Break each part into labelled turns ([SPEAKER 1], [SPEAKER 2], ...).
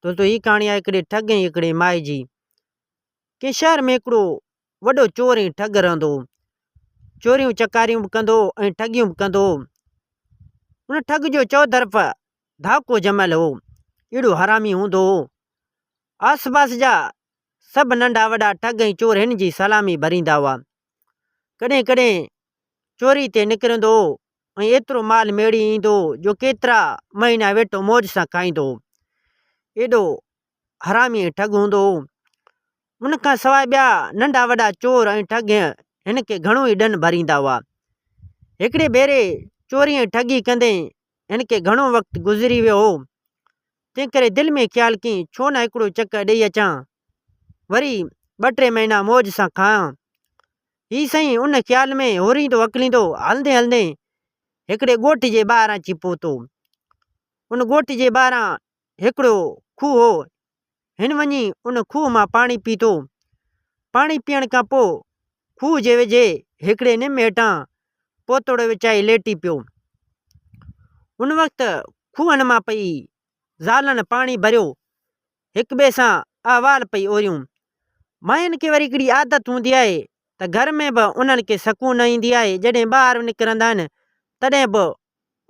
[SPEAKER 1] دوستو هي ڪهاڻي آهي هڪڙي ٺڳ ۽ هڪڙي مائي جي ڪنهن شهر ۾ هڪڙو وڏو چور ۽ ٺڳ رهندو هو چوريون چڪاريون به ڪندو هو ۽ ٺڳيون به ڪندو هو هن ٺڳ جو چوطرف ڌاڪو جمل هو اهڙو حرامي هوندو هو آس پاس جا سڀ ننڍا وڏا ٺڳ ۽ چور هن جي سلامي ڀريندا هئا ڪڏهن ڪڏهن چوري تي نڪرندو هو ۽ ايترو مال ميڙي ايندو هو جو ڪيترا مهينا ويٺو موج سان کائيندو هو ايڏو حرامي ۽ ٺڳ هوندو هو ان کان سواء ٻيا ننڍا وڏا چور ۽ ٺڳ هن کي گهڻو ئي ڏن ڀريندا هئا هڪڙي ڀيري چوري ۽ ٺڳي ڪندي هن کي گهڻو وقت گذري ويو هو تنهن ڪري دل ۾ خيال ڪيائين ڇو نه هڪڙو چڪر ڏئي اچان وري ٻه ٽي مهينا موج سان کائان هي سائين ان خيال ۾ هوريندو هڪليندو هلندي هلندي هڪڙي ڳوٺ جي ٻاهران اچي پهتو. ان ڳوٺ جي ٻاهران هڪڙو کوهه هو. هن وڃي ان کوهه مان پاڻي پيتو. پاڻي پيئڻ کان پوء کوهه جي ويجهي هڪڙي نم هيٺان پوتوڙو وڇائي ليٽي پيو. ان وقت کوهن مان پئي زالن پاڻي ڀريو. هڪ ٻئي سان احوال پئي اوريون. ماين کي وري هڪڙي عادت هوندي آهي ته گهر ۾ به انهن کي سڪون نه ايندي آهي جڏهن ٻاهر نڪرندا آهن تڏهن به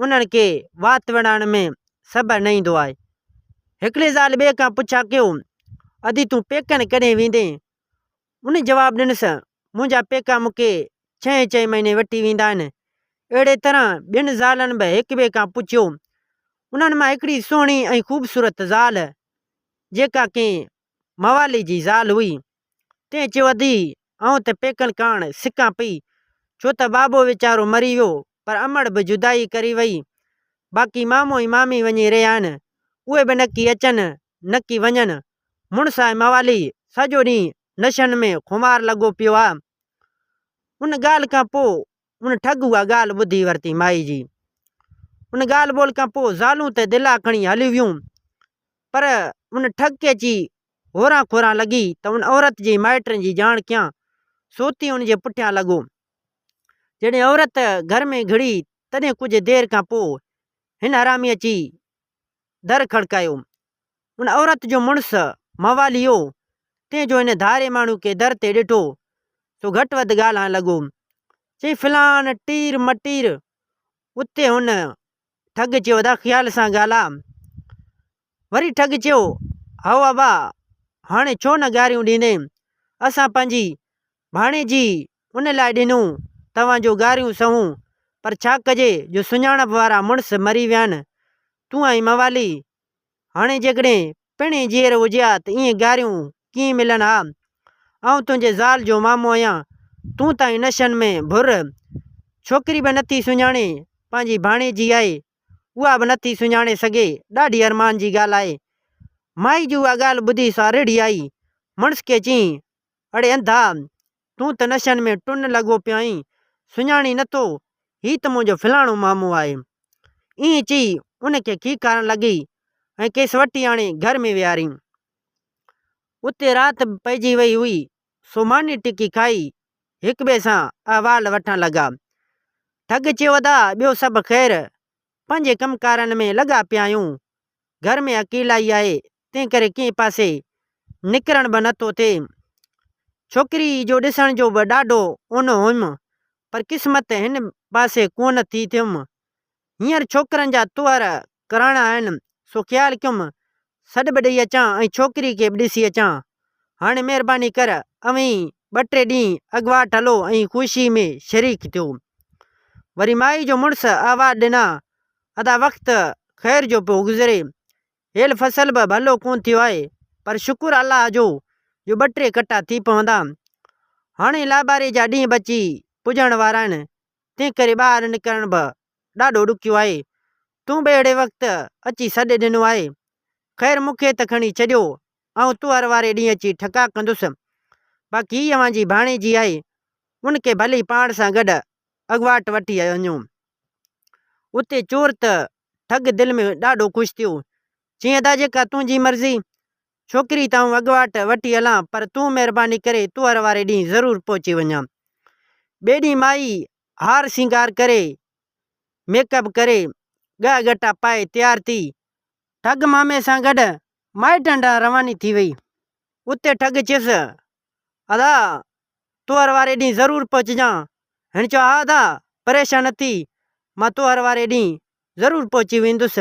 [SPEAKER 1] انهن کي وات وڙائڻ ۾ صبر نه ايندو آهي. هڪڙي زال ٻئي کان پڇا ڪيو ادي تون پيڪن ڪڏهن ويندين؟ ان جواب ڏنس، منهنجا پيڪا مون کي ڇهين ڇهين مهيني وٺي ويندا آهن. اهڙي طرح ٻين زالن به هڪ ٻئي کان پڇيو. انهن مان هڪڙي سهڻي ۽ خوبصورت زال، جيڪا ڪنهن موالي جي زال هئي، تنهن چيو ادي آئون ته پيڪن ڪاڻ سڪان پئي، ڇو ته بابو ويچارو مري ويو، پر امڙ به جدائي ڪري وئي. باقي مامو ۽ مامي وڃي رهيا آهن، اهي به نڪي اچن نڪي وڃن. مڙس ۽ موالي سڄو ڏينهن نشن ۾ خمار لڳو پيو آ. ان ڳالهه کان پوء ان ٺڳ اها ڳالهه ٻڌي ورتي مائي جي. ان ڳالهه ٻولهه کان پوء زالون ته دلا کڻي هلي ويون. پر ان ٺڳ کي اچي هوران کوران لڳي ته ان عورت جي مائٽن جي ڄاڻ ڪيان. سوتي ان جي پٺيان لڳو. جڏهن عورت گهر ۾ گهڙي تڏهن ڪجهه دير کان پوء هن حرامي اچي در کڙڪايو. ان عورت جو مڙس مواليو تنهن جو هن ڌاري ماڻهو کي در تي ڏٺو سو گهٽ وڌ ڳالهائڻ لڳو. چيائين فلان ٽير مٽير اتي هن ٺڳ چيو ادا خيال سان ڳالهاء. وري ٺڳ چيو هائو ابا هاڻي ڇو نه گاريون ڏيندين اسان پنهنجي ڀاڻيجي ان لاء ڏنون توهان جون گاريون سهون، پر ڇا ڪجي جو سڃاڻپ وارا مڙس مري ويا آهن. تون آهين موالي، هاڻي جيڪڏهن پڻ ائين جيئرو هجي ها ته ائين گاريون ڪيئن ملن ها. آئون تنهنجي زال جو مامو آهيان، تون ته آهين نشن ۾ ڀر. ڇوڪري به نٿي سڃاڻي، پنهنجي ڀاڻيجي آهي، اها به نٿي سڃاڻي سگهي، ڏاڍي ارمان جي ڳالهه آهي. مائي جي اها ڳالهه ٻڌي سا رڙهي آئي، مڙس کي چيائين، اڙي انڌا، تون ته نشن ۾ ٽن لڳو پيائين، سڃاڻين نٿو، هي ته منهنجو فلاڻو مامو آهي. ائين چئي ان کي کيڪارڻ لڳي ۽ کيس وٺي آڻي گهر ۾ ويهاريائين. اتي رات به پئجي وئي هئي، سو ماني ٽڪي کائي هڪٻئي سان احوال وٺڻ لڳا. ٺڳ چيو ادا ٻيو سڀ خير، پنهنجي ڪم ڪارن ۾ لڳا پيا آهيون، گهر ۾ اڪيلائي آهي، تنهن ڪري ڪنهن پاسي نڪرڻ به نه ٿو ٿئي. ڇوڪري جو ڏسڻ جو به ڏاڍو اونو هيم، پر قسمت هن پاسي ڪونه ٿي ٿيم. هينئر ڇوڪرن جا طوهر ڪراڻا آهن، سو خيال ڪيم سڏ به ڏئي اچان ۽ ڇوڪري کي به ڏسي اچان. هاڻي مهرباني ڪر اوهين ٻه ٽي ڏينهن اڳواٽ هلو ۽ خوشيء ۾ شريڪ ٿيو. وري مائي جو مڙس آواز ڏنا، ادا وقت خير جو پيو گذري، هيل فصل به ڀلو ڪونه ٿيو آهي پر شڪر الله جو جو ٻه ٽي ڪٽا ٿي پوندا. هاڻي لاباري جا ڏينهن به اچي پڄڻ وارا آهن تنهن ڪري ٻاهر نڪرڻ به ڏاڍو ڏکيو آهي. تون به اهڙي وقت اچي سڏ ڏنو آهي. خير مون کي ته کڻي ڇڏيو آئون تؤهر واري ڏينهن اچي ٺڪاء ڪندس. باقي هي اوهان جي ڀاڻيجي آهي ان کي ڀلي پاڻ سان گڏ اڳواٽ وٺي وڃو. اتي چور ته ٺڳ دل ۾ ڏاڍو خوش ٿيو. چيائين ادا جيڪا تنهنجي مرضي. ڇوڪري ته آئون اڳواٽ وٺي هلان پر تون مهرباني ڪري تؤهر واري ڏينهن ضرور پهچي وڃان. ٻئي ڏينهن مائي هار سينگار ڪري، ميڪ اپ ڪري، ڳهه ڳٽا پائي تيار ٿي، ٺڳ مامي سان گڏ مائٽن ڏانهن رواني ٿي وئي. اتي ٺڳ چيس ادا تهر واري ڏينهن ضرور پهچجان. هن چيو ها ادا پريشان نه ٿي مان تهر واري ڏينهن ضرور پهچي ويندس.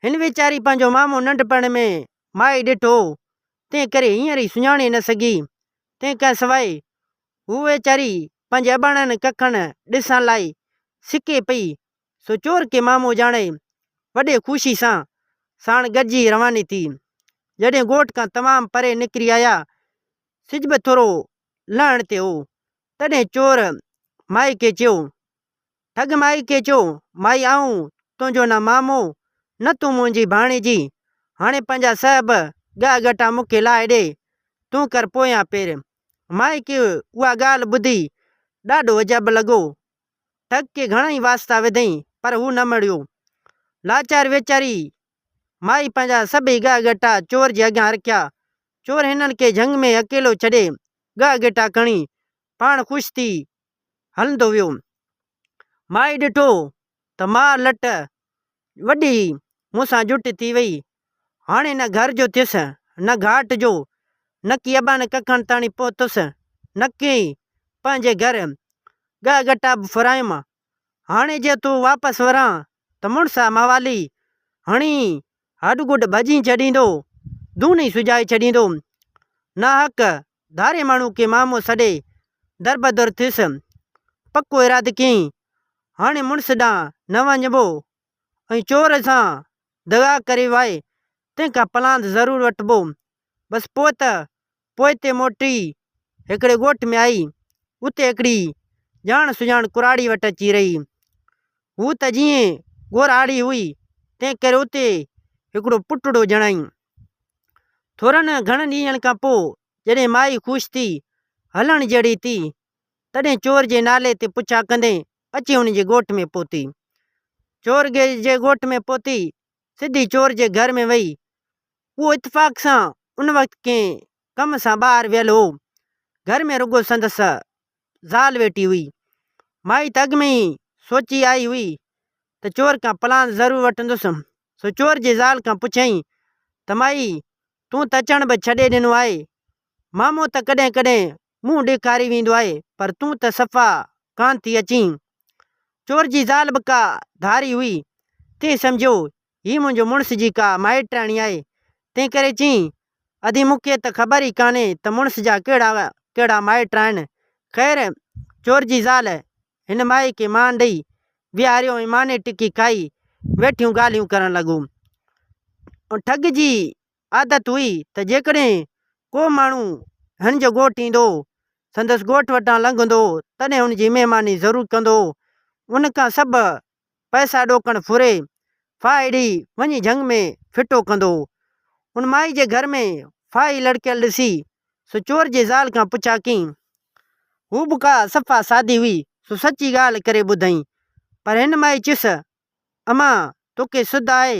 [SPEAKER 1] هن ويچاري پنهنجو مامو ننڍپڻ ۾ مائي ڏٺو هو تنهن ڪري هينئر ئي سڃاڻي نه سگهي. تنهن کان سواء هوء ويچاري پنهنجي اباڻن ڪکن ڏسڻ لاء سڪي پئي سو چور کي مامو ڄاڻائي وڏي خوشي سان ساڻ گڏجي رواني ٿي. جڏهن ڳوٺ کان تمام پري نڪري آيا، سج به ٿورو لهڻ تي هو، تڏهن چور مائي کي چيو، ٺڳ مائي کي چئو، مائي آئون تنهنجو نه مامو، نه تون منهنجي ڀاڻيجي، هاڻي پنهنجا سهب ڳهه ڳٽا مون کي لاهي ڏي، تون ڪر پويان پير. مائي کي اها ڳالهه ٻڌي ڏاڍو عجب لڳو. ٽڪ ڪي گهڻائي واسطا وڌئين، پر هو نه مڙيو. لاچار ويچاري مائي پنهنجا سڀئي ڳهه ڳٽا چور جي اڳيان رکيا. چور هنن کي جهنگ ۾ اڪيلو ڇڏي، ڳهه ڳٽا کڻي، پاڻ خوش ٿي هلندو ويو. مائي ڏٺو ته مار لٽ وڏي هي، مون سان جٽ ٿي وئي. هاڻي نه گهر جو ٿيس، نه گهاٽ جو، نڪي اباڻي ڪکڻ تاڻي پهتس، نڪي ئي پنهنجي گهر ڳهه ڳٽا به ڦرايم. هاڻي جي تون واپس وران ته مڙسا موالي هڻي هڏ گڏ ڀڄي ڇڏيندو، دون ئي سجائي ڇڏيندو. ناحق ڌاري ماڻهو کي مامو سڏي دربدر ٿيس. پڪو ارادو ڪيئي، هاڻي مڙس ڏانهن نه وڃبو ۽ چور سان دغا ڪري واء تنهن کان پلاند ضرور وٺبو. بس پوء ته پوئتي موٽي هڪڙي ڳوٺ ۾ آئي. اتي هڪڙي ڄاڻ سڃاڻ ڪراڙي وٽ اچي رهي. هوء ته جيئن ڳورهاڙي هئي، تنهن ڪري اتي هڪڙو پٽڙو ڄڻائين. ٿورن گهڻن ڏينهن کان پوء جڏهن مائي خوش ٿي هلڻ جهڙي ٿي، تڏهن چور جي نالي تي پڇا ڪندي اچي هن جي ڳوٺ ۾ پهتي. چور جي ڳوٺ ۾ پهتي سڌي چور جي گهر ۾ وئي. اهو اتفاق سان ان وقت ڪنهن ڪم سان ٻاهر ويل هو. گهر ۾ رڳو سندس زال ويٺي هئي. مائي ته اڳ ۾ ئي سوچي آئي هئي ته چور ڪا پلان ضرور وٺندس. سو چور جي زال کان پڇيائين ته مائي تون ته اچڻ به ڇڏي ڏنو آهي. مامو ته ڪڏهن ڪڏهن منهن ڏيکاري ويندو آهي، پر تون ته صفا ڪانه ٿي اچين. چور جي زال به ڪا ڌاري هئي، تنهن سمجهيو هي منهنجو مڙس جي ڪا مائٽياڻي آهي، تنهنڪري چيائين، ادي مون کي ته خبر ئي ڪانهي ته مڙس جا ڪهڙا ڪهڙا مائٽ آهن. خير، چور جي زال هن مائي کي مان ڏئي ويهاريو ۽ ماني ٽڪي کائي ويٺيون ڳالهيون ڪرڻ لڳو. ٺڳ جي عادت هئي ته جيڪڏهن ڪو ماڻهو هن جو ڳوٺ ايندو، سندس ڳوٺ وٽان لنگهندو تڏهن هن جي مهماني ضرور ڪندو. ان کان سڀ پئسا ڏوڪڻ ڦري، ڦاهي ڏئي وڃي جهنگ ۾ ڦٽو ڪندو. ان مائي جي گهر ۾ ڦاهي لڙڪيل ڏسي، سو چور جي زال کان پڇا ڪيئين. هوء به ڪا صفا سادي هئي، سو سچي ڳالهه ڪري ٻڌئين. پر هن مائي چيس امان توکي سڌ آهي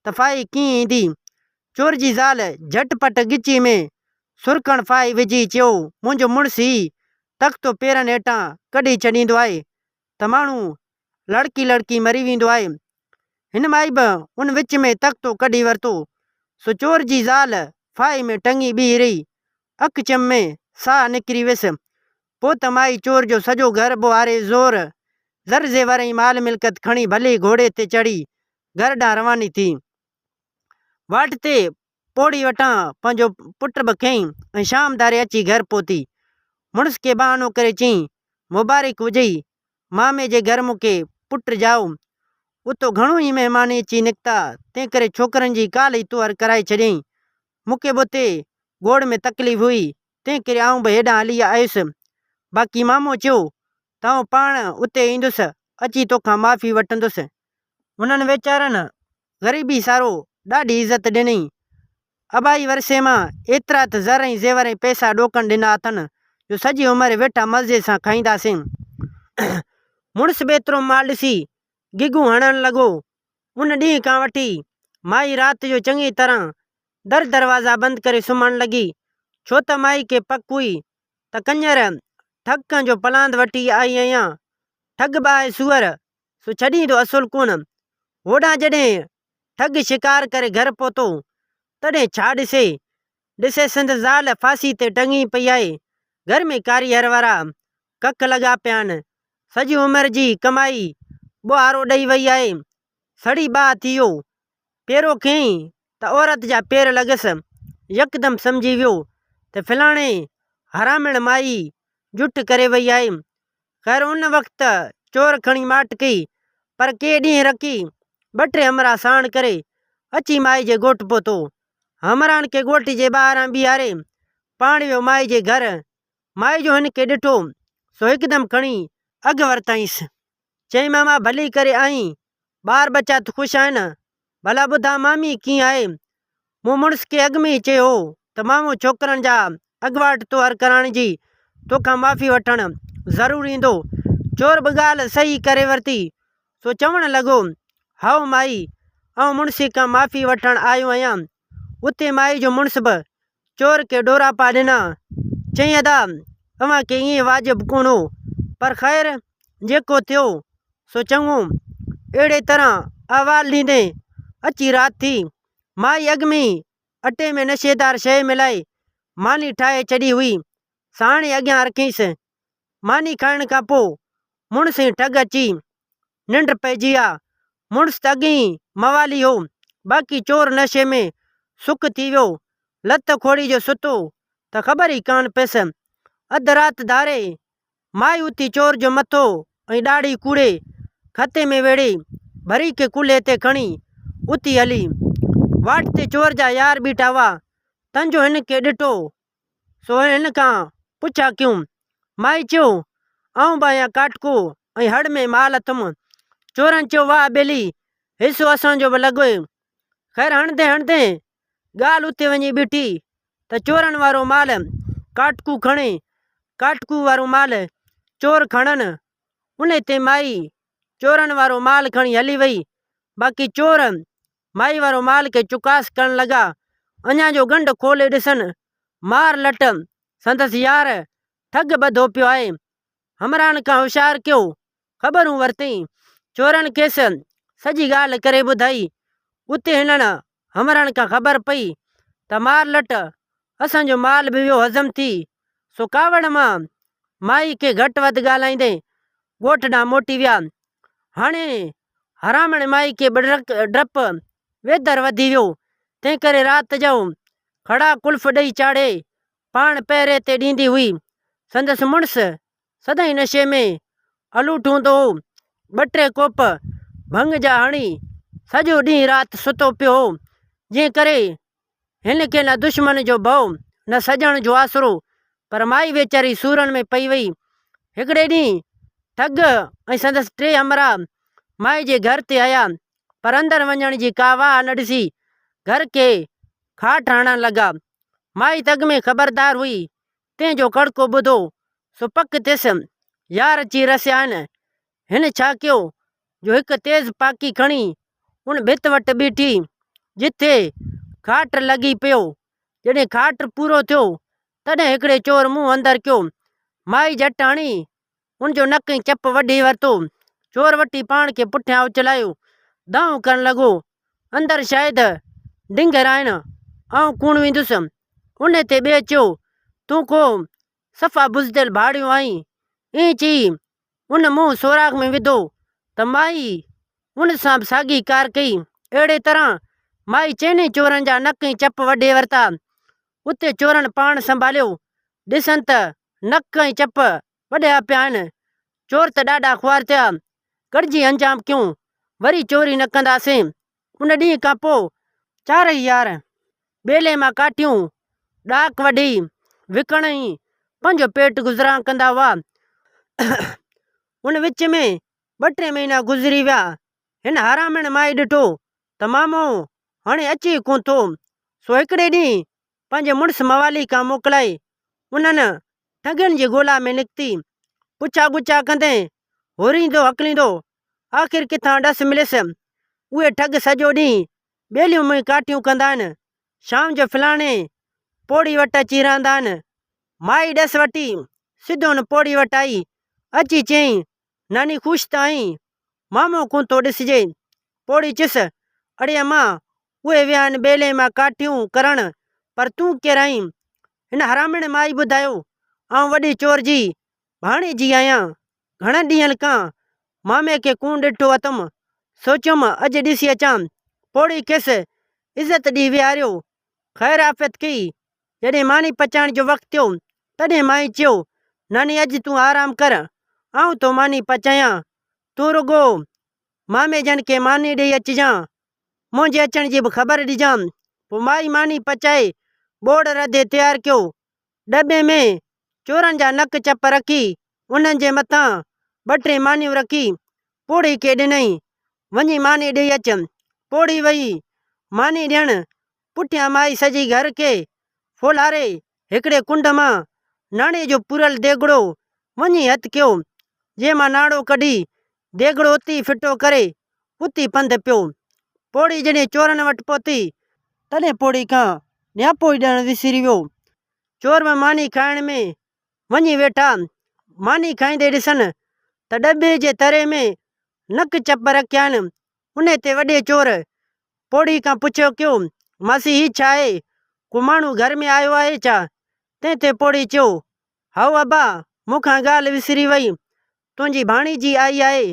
[SPEAKER 1] ته ڦاهي ڪيئن ايندي؟ چور جي زال جهٽ پٽ ڳچيء ۾ سرکڻ ڦاهي وجهي چيو، منهنجو مڙس هي تختو پيرن هيٺان ڪڍي ڇڏيندو آهي ته ماڻهو لڙڪي لڙڪي مري ويندو آهي. هن مائي به ان وچ ۾ تختو ڪڍي ورتو، سو چور جي زال ڦاهي ۾ ٽنگي بيهي رهي. اک چم ۾ ساهه نڪري ويس. پوت مائي چور جو سڄو گهر ٻوهاري زور زر زيور ۽ مال ملڪت کڻي ڀلي گهوڙي تي چڙهي گهر ڏانهن رواني ٿي. واٽ تي پوڙهي وٽان پنهنجو پٽ به کنئي ۽ شام ڌاري اچي گهر پهتي. مڙس کي بهانو ڪري چيائين، مبارڪ هجئي مامي جي گهر مون کي پٽ ڄائو. اتو گهڻو ئي مهمان اچي نڪتا، تنهنڪري ڇوڪرن جي ڪالهه ئي طوهر ڪرائي ڇڏيائين. مون کي به اتي گوڙ ۾ تڪليف هئي، تنهنڪري آئون به هيڏانهن هلي آيس. باقي مامو چيو ته آئون پاڻ اتي ايندس، اچي توکان معافي وٺندس. هنن ويچارن غريبي سارو ڏاڍي عزت ڏنئين. ابائي ورثي مان ايترا ته زر ۽ زيور ۽ پئسا ڏوڪن ڏنا اٿن جو سڄي عمر ويٺا مزي سان کائينداسين. مڙس به ايترو مال ڏسي گگهون هڻڻ لڳو. ان ڏينهن کان وٺي مائي رات جو چڱي طرح در دروازا بند ڪري سمهڻ لڳي، ڇو ته مائي کي پڪ هئي ته ڪڃر ٺڳ ڪنهن جو پلاند وٺي آئي آهيان. ٺڳ ٻاهي سوئر، سو ڇڏين ٿو اصول ڪونه. هوڏانهن جڏهن ٺڳ شڪار ڪري گهر پهتو، تڏهن ڇا ڏسي؟ ڏسي سندس زال ڦاسي تي ٽنگي پئي آهي. گهر ۾ ڪاري هر وارا ڪک لڳا پيا آهن. سڄي عمر جي ڪمائي ٻوهارو ڏئي وئي آهي. سڙي ٻاهه ٿي ويو. پيرو ڪيائين ته عورت جا پير لڳس، يڪدم سمجهي ويو ته فلاڻي حرامڻ مائي جٺ ڪري وئي آهي، خير ان وقت چور کڻي ماٽ ڪئي، پر ڪي ڏينهن رکي ٻه ٽي همراهه ساڻ ڪري اچي مائي جي ڳوٺ پهتو، همراهن کي ڳوٺ جي ٻاهران بيهاري پاڻ ويو مائي جي گهر، مائي جو هن کي ڏٺو سو هڪدم کڻي اگهه ورتائينس. چيائين ماما ڀلي ڪري آئين، ٻار ٻچا ته خوش آهن، ڀلا ٻڌاء مامي ڪيئن آهي؟ مون مڙس کي اڳ ۾ ئي چيو هو ته مامو ڇوڪرن جا اڳواٽ طوهر ڪرائڻ جي توکان معافي وٺڻ ضرور ايندو. چور به ڳالهه صحيح ڪري ورتي، سو چوڻ لڳو، هائو مائي، آئون مڙسي کان معافي وٺڻ آيو آهيان. اتي مائي جو مڙس به چور کي ڏوراپا ڏنا. چيائين ادا اوهان کي ائين واجب ڪونه هو، پر خير جيڪو ٿيو سو چڱو. اهڙيء طرح احوال ڏيندي اچي رات ٿي. مائي اڳ ۾ ئي اٽي ۾ نشيدار شيء ملائي ماني ٺاهي ڇڏي هئي، سا هاڻي اڳيان رکيس. ماني کائڻ کان پوء مڙس ۽ ٺڳ اچي ننڊ پئجي آ، مڙس ته اڳي ئي موالي هو، باقي چور نشي ۾ سڪ ٿي ويو، لت کوڙي جو ستو ته خبر ئي ڪانه پيس. اڌ رات ڌاري مائي اٿي چور جو مٿو ۽ ڏاڙهي ڪوڙي کتي ۾ ويڙهي، ڀري کي ڪلهي تي کڻي اٿي هلي. واٽ تي چور جا يار بيٺا هئا، تنجو هن کي ڏٺو سو هن کان پڇا ڪيون. مائي چيو، آئون به آهيان ڪاٽڪو ۽ هڙ ۾ مال اٿم. چورن چيو، واهه ٻيلي، حصو اسان جو به لڳوئي. خير هڻندي هڻندي ڳالهه اتي وڃي بيٺي ته چورن وارو مال ڪاٽڪو کڻي، ڪاٽڪو وارو مال چور کڻن. انهي تي مائي چورن وارو مال کڻي هلي وئي، باقي چور مائي وارو مال کي چڪاس ڪرڻ لڳا. اڃا جو ڳنڍ کولي ڏسن، مار لٽ سندس يار ٺڳ ٻڌو پيو آهي. همراهن کان هوشيار ڪيو، خبرون ورتئين. چورن کيس سڄي ڳالهه ڪري ٻڌائي. اتي هنن همراهن کان خبر پئي ته مار لٽ اسان جو مال به ويو هضم ٿي، سو ڪاوڙ مان مائي کي گهٽ وڌ ڳالهائيندي ڳوٺ ڏانهن موٽي ويا. هاڻي حرامڻي مائي کي ٻڏرڪ ڊپ ويدر وڌي ويو، تنهن ڪري رات جو ڪھڙا ڪلف ڏئي چاڙهي پاڻ پهري تي ڏيندي هئي. سندس مڙس سدائين نشي ۾ الوٽ هوندو هو. ٻه ٽي ڪوپ ڀنگ جا هڻي سڄو ڏينهن رات ستو پيو هو، جنهن ڪري هن کي نه دشمن جو ڀؤ، نه سڄڻ جو آسرو، پر مائي ويچاري سورن ۾ پئي وئي. هڪڙي ڏينهن ٺڳ ۽ سندس ٽي همراهه مائي جي گهر تي آيا، پر اندر وڃڻ جي ڪا واهه نه ڏسي، گهر کي کاٽ هڻڻ لڳا. مائي تڳ ۾ خبردار هئي، تنهن جو ڪڙڪو ٻڌو، سو پڪ ٿيس، يار اچي رسيا آهن. هن ڇا ڪيو جو هڪ تيز پاڪي کڻي ان ڀت وٽ بيٺي، جتي کاٽ لڳي پيو. جڏهن کاٽ پورو ٿيو، تڏهن هڪڙي چور منهن اندر ڪيو، مائي جهٽاڻي هن جو نڪ ۽ چپ وڍي ورتو. چور وٺي پاڻ کي پٺيان اڇلايو، دانهون ڪرڻ لڳو، اندر شايد ڊنگر آهن، آئون ڪوڻ ويندس. انهيء تي ٻئي چيو، تون ڪو صفا بزدل ڀاڙيو آهين. ائين چئي ان منهن سوراخ ۾ وڌو ته مائي ان سان به ساڳي ڪار ڪئي. اهڙيء طرح مائي چئني چورن جا نڪ ۽ چپ وڍي ورتا. اتي چورن پاڻ سنڀاليو، ڏسن ته نڪ ۽ چپ وڍيا پيا آهن، چور ته ڏاڍا خوار ٿيا، ڳڙجي انجام ڪيون، وري چوري نه ڪنداسين، ان ڏينهن کان پوء چارئي يار ٻيلي مان ڪاٺيون ڏاڪ وڍي وڪڻ ئي پنهنجو پيٽ گذران ڪندا هئا، ان وچ ۾ ٻه ٽي مهينا گذري ويا، هن حرامڻ مائي ڏٺو ته مامو هاڻي اچي ئي ڪونه ٿو. سو هڪڙي ڏينهن پنهنجي مڙس موالي کان موڪلائي انهن ٺڳين جي ڳولا ۾ نڪتي. پڇا ڳڇا ڪندي هوريندو هڪليندو آخر ڪٿان ڏس مليس. اهي ٺڳ سڄو ڏينهن ٻيليون منهن ڪاٺيون ڪندا آهن. شام جو فلاڻي پوڙهي وٽ اچي رهندا آهن. مائي ڏس وٺي سڌو ان پوڙهي وٽ آئي. اچي چيائين ناني خوش ته آهين، مامو ڪونه ٿو ڏسجي. پوڙهي چيس، اڙي اما، اهي ويا آهن ٻيلي مان ڪاٺيون ڪرڻ، پر تون ڪير آهين؟ هن حرامڻي مائي ٻڌايو، آئون وڏي چور جي ڀاڻيجي آهيان. گهڻن ڏينهن کان مامي کي ڪونه ڏٺو اٿم، سوچيم اڄ ڏسي اچان. پوڙهي کيس عزت ڏئي ويهاريو، خير عافيت ڪئي، جڏهن ماني پچائڻ جو وقت ٿيو، تڏهن مائي چيو، ناني اڄ تون آرام ڪر، آئون ٿو ماني پچايان، تون رڳو مامي جن کي ماني ڏيئي اچجان، منهنجي اچڻ جي به خبر ڏجان. پوء مائي ماني پچائي ٻوڙ رڌي تيار ڪيو. ڏٻي ۾ چورن جا نڪ چپ رکي، انهن جي مٿان ٻه ٽي مانيون رکي، پوڙهي کي ڏنائين، وڃي ماني ڏيئي اچ. پوڙهي ويئي ماني ڏيڻ، پٺيان مائي سڄي گهر کي ڦولهاري هڪڙي ڪنڊ مان ناڻي جو پوريل ديڳڙو وڃي هٿ ڪيو، جنهن مان ناڻو ڪڍي ديڳڙو اتي ئي ڦٽو ڪري اتي پنڌ پيو. پوڙهي جڏهن چورن وٽ پهتي، تڏهن پوڙهي کان نياپو ئي ڏيڻ وسري ويو. چور به ماني کائڻ ۾ وڃي ويٺا، ماني کائيندي ڏسن ته ڏٻي جي تري ۾ نڪ چپ رکيائين، انهيء تي وڏي چور پوڙهي کان پڇيو ڪيو، ماسي هي ڇا آهي؟ ڪو ماڻهو گهر ۾ آيو آهي ڇا؟ تنهن تي پوڙهي چيو، هائو ابا، مون کان ڳالهه وسري وئي، تنهنجي ڀاڻيجي آئي آهي.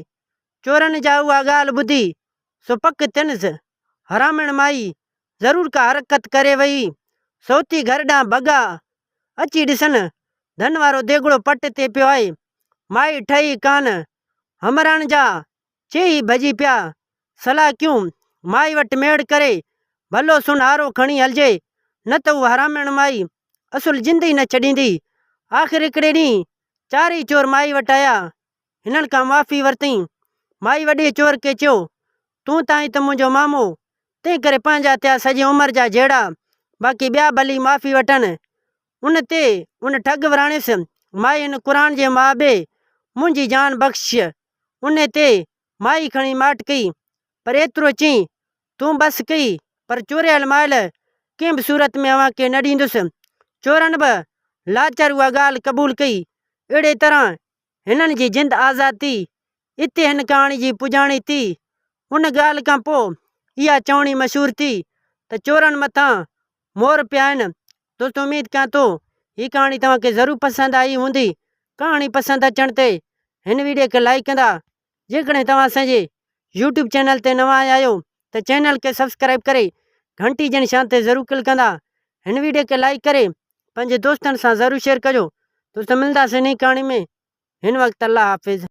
[SPEAKER 1] چورن جا اها ڳالهه ٻڌي، سو پڪ تنس، حرامڻ مائي ضرور ڪا حرڪت ڪري ويئي. سو اٿي گهر ڏانهن ڀڳا. اچي ڏسن، ڌن وارو ديڳڙو پٽ تي پيو آهي. مائي ٺهي ڪانه. همراڻ جا چيئي ڀڄي پيا صلاح ڪيون مائي وٽ ميڙ ڪري ڀلو سن آرو کڻي هلجي نه ته اها حراميڻ مائي اصل زندي نه ڇڏيندي. آخر هڪڙي ڏينهن چارئي چور مائي وٽ آيا هنن کان معافي ورتئين. مائي وڏي چور کي چيو تون ته آهين ته منهنجو مامو تنهن ڪري پنهنجا ٿيا سڄي عمر جا جهيڙا باقي ٻيا ڀلي معافي وٺن. ان تي ان ٺڳ وراڻيس مائي هن قرآن جي ماء ٻي منهنجي جان بخش. ان تي مائي کڻي ماٺ ڪئي پر ايترو چئي تون بس ڪئي پر چوريل مائل ڪنهن به صورت ۾ اوهان کي نه ڏيندس. چورن به لاچار اها ڳالهه قبول ڪئي. اهڙي طرح هنن جي جند آزاد ٿي. اتي هن ڪهاڻي جي پڄاڻي ٿي. ان ڳالهه کان پوء اها چوڻي مشهور ٿي ته چورن مٿان مور پيا آهن دوستو اميد ڪيان ٿو هي ڪهاڻي توهان کي ضرور پسند آئي هوندي ڪهاڻي پسند اچڻ تي هن ويڊيو کي لائيڪ ڪندا جيڪڏهن توهان اسان جي يوٽيوب چينل تي نوان آيا آهيو ته چينل کي سبسڪرائب ڪري گهنٽي جي نشان تي ضرور ڪلڪ ڪندا هن ويڊيو کي لائيڪ ڪري پنهنجي دوستن سان ضرور شيئر ڪجو دوستو ملنداسين انهي ڪهاڻي ۾ هن وقت الله حافظ